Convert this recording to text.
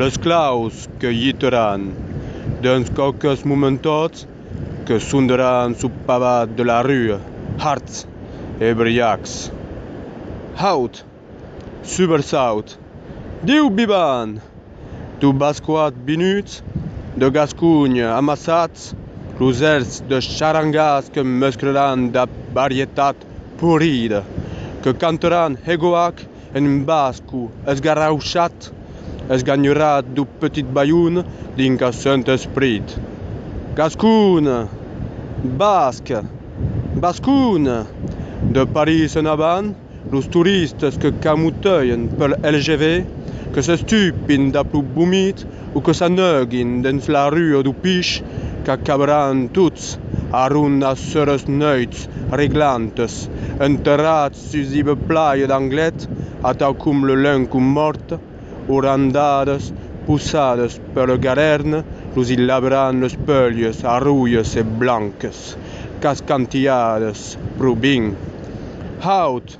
Los claus que gittaràn dens quauques momentòts que sondaràn sul pavat de la rua hards e briacs. Haut! Subersaut! Diu vivan! Deu bascoats vinuts de Gasconha amassats los èrts de charangàs que mesclaràn da varietat porrida, que cantaràn hegoac En basco, esgarrauchat, esganhorat dau petit balhon dins qu'ath sent esprit. Gascon! Basc! Bascon! De París en avant, los toristes que camotèien pel LGV, que s'estupin dab lo vomit O que s'aneugin dens la rua do Pich qu'acabaràn tots a rondar seras noites reglantes enterrats sus iba plaja d'Anglet atau com le lenco mòrt o randades posadas per le garèirn los i labràn les pèlhas arroias e blancas qu'as cantiadas pro bin haut.